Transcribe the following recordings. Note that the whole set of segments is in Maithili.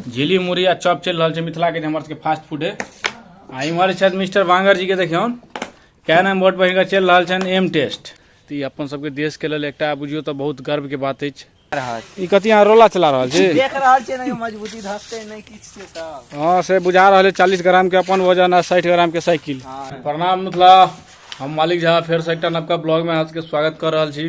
झिली मुरही आ चॉप चलि रहल छै मिथिलाके जे हमर सबके फास्ट फूड है आ इम्हर छथि मिस्टर वांगर जी के देखियौ कैन एम बोर्ड पर हिनकर चलि रहल छनि एम टेस्ट तऽ ई अपन सबके देश के लेल एकटा बुझियौ तऽ बहुत गर्व के बात अछि ई कथी अहाँ रोला चला रहल छी देख रहल छियै ने मजबूती धसते नहि किछु से सब हाँ से बुझा रहल है चालीस ग्राम के अपन वजन आ साठि ग्राम के साइकिल प्रणाम मिथिला हम मालिक झा फेर से एकटा नवका ब्लॉग में अहाँ सबके स्वागत कर रहल छी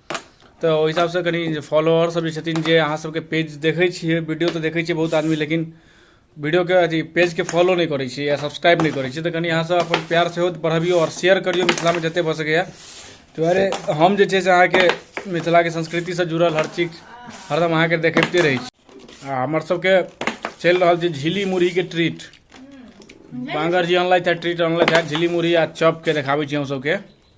तऽ ओहि हिसाबसँ कनि जे फॉलोअरसभ जे छथिन जे अहाँसभके पेज देखै छियै वीडियो तऽ देखै छियै बहुत आदमी लेकिन वीडियोके अथि पेजके फॉलो नहि करै छियै या सब्सक्राइब नहि करै छियै तऽ कनि अहाँसभ अपन प्यार सेहो बढ़बियौ आओर शेयर करियौ मिथिलामे जतेक भऽ सकैए ताहि दुआरे हम जे छै से अहाँके मिथिलाके संस्कृतिसँ जुड़ल हर चीज हरदम अहाँके देखबिते रहै छी आ हमरसभके चलि रहल छै झिल्ली मुरहीके ट्रीट बाँगर जी अनलथि हे ट्रीट अनलथि हे झिल्ली मुरही आ चॉपके देखाबै छी हमसभके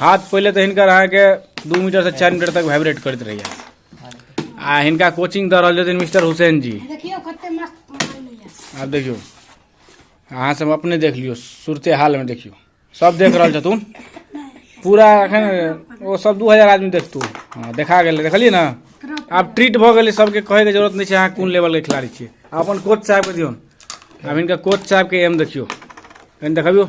हाथ पहले तो हिनकर अहाँके दू मीटर से चार मीटर तक वाइब्रेट करते रहिए आ हिनका कोचिंग दे रहे छथिन मिस्टर हुसैन जी आप देखियो अहाँ सब अपने देख लियो सुरते हाल में देखियो सब देख रहा छथुन पूरा अखन वो सब दू हजार आदमी देखतू हाँ देखा गए देखलिए ना आब ट्रीट भऽ गेलै सबके कहैके जरूरत नहीं है अहाँ कोन लेवलके खिलाड़ी छे अपन कोच साहब के दियो अब इनका कोच साहब के एम देखियो कहीं देखियो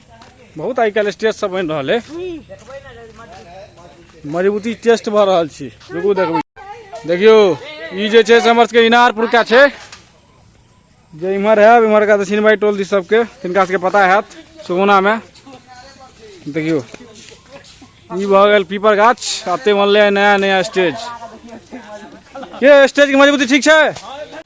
बहुत आइ काल्हि स्टेज सब बनि रहल है मजबूती टेस्ट भऽ रहल छी रुकू देखबै देखियौ ई जे छै से हमर सबके इनारपुरका छै जे इम्हर है इम्हरका तऽ सिनबाई टोल दी सबके तिनका सबके पता हैत सुगुनामे देखियौ ई भऽ गेल पीपर गाछ आते बनलै नया नया स्टेज ये स्टेजके मजबूती ठीक छै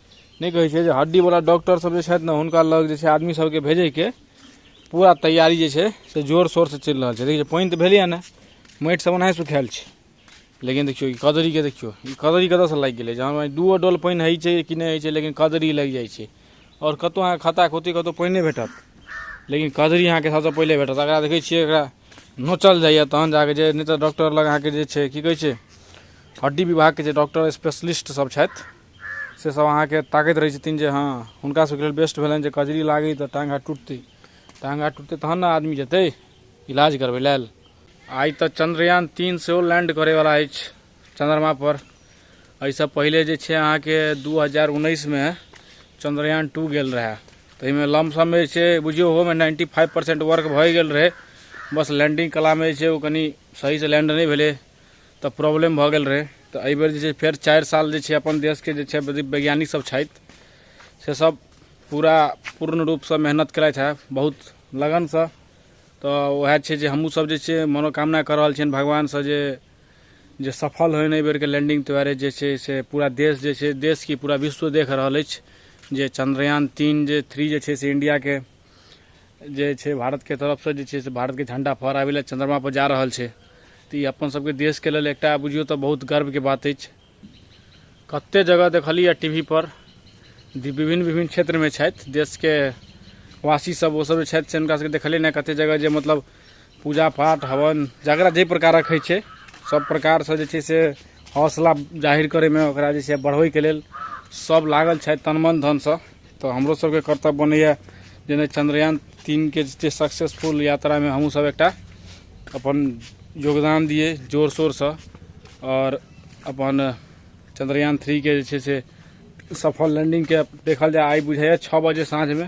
नहि कहै छै जे हड्डीवला डॉक्टरसभ जे छथि ने हुनका लग जे छै आदमी सभके भेजयके पूरा तैयारी जे छै से जोर शोरसँ चलि रहल छै देखियौ पानि तऽ भेलैए नहि माटिसभ ओनाहि सुखायल छै लेकिन देखियौ ई कदरीके देखियौ ई कदरी कतयसँ लागि गेलै जहाँ मानि दूओ डोल पानि होइ छै कि नहि होइ छै लेकिन कदरी लागि जाइ छै आओर कतहु अहाँके खत्ता खोत्ती कतहु पानि नहि भेटत लेकिन कदरी अहाँके सभसँ पहिले भेटत एकरा देखै छियै एकरा नोचल जाइए तहन जा कऽ जे नहि तऽ डॉक्टर लग अहाँके जे छै की कहै छै हड्डी विभागके जे डॉक्टर स्पेशलिस्टसभ छथि से सब अहाँके ताकैत रहै छथिन जे हँ हुनका सबके लेल बेस्ट भेलनि जे कजरी लागै तऽ टाँग हाथ टुटतै टाँग हाथ टुटतै तहन ने आदमी जेतै इलाज करबै लेल आइ तऽ चंद्रयान तीन सेहो लैंड करैवला अछि चंद्रमापर एहिसँ पहिले जे छै अहाँके दू हजार उन्नैसमे चंद्रयान टू गेल रहए ताहिमे लमसममे जे छै बुझियौ ओहोमे नाइन्टी फाइव परसेंट वर्क भए गेल रहै बस लैंडिंग कलामे जे छै ओ कनि सहीसँ लैंड नहि भेलै तऽ प्रॉब्लम भऽ गेल रहै तऽ एहि बेर जे छै फेर चारि साल जे छै अपन देशके जे छै वैज्ञानिक सब छथि से सब पूरा पूर्ण रूपसँ मेहनत केलथि हँ बहुत लगनसँ तऽ वएह छै जे हमहूँ सब जे छै मनोकामना कऽ रहल छियनि भगवानसँ जे जे सफल होइनि एहि बेरके लैंडिंग दुआरे जे छै से पूरा देश जे छै देश की पूरा विश्व देख रहल अछि जे चन्द्रयान तीन जे थ्री जे छै से इंडियाके जे छै भारतके तरफसँ जे छै से भारतके झण्डा फहराबै लए चन्द्रमापर जा रहल छै तऽ ई अपन सबके देशके लेल एकटा बुझियौ तऽ बहुत गर्वके बात अछि कते जगह देखलियै टी वी पर विभिन्न विभिन्न क्षेत्रमे छथि देशके वासी सब ओ सब जे छथि से हुनका सबके देखलियै ने कते जगह जे मतलब पूजा पाठ हवन जकरा जाहि प्रकारक होइ छै सब प्रकारसँ जे छै से हौसला जाहिर करैमे ओकरा जे छै बढ़बैके लेल सब लागल छथि तनमन धनसँ तऽ हमरो सबके कर्तव्य बनैए जेना चंद्रयान तीनके जे सक्सेसफुल यात्रामे हमहूँ सब एकटा अपन योगदान दिए जोर शोरसँ आओर अपन चंद्रयान थ्रीके जे छै से सफल लैंडिंगके देखल जाय आइ बुझाइए छओ बजे साँझमे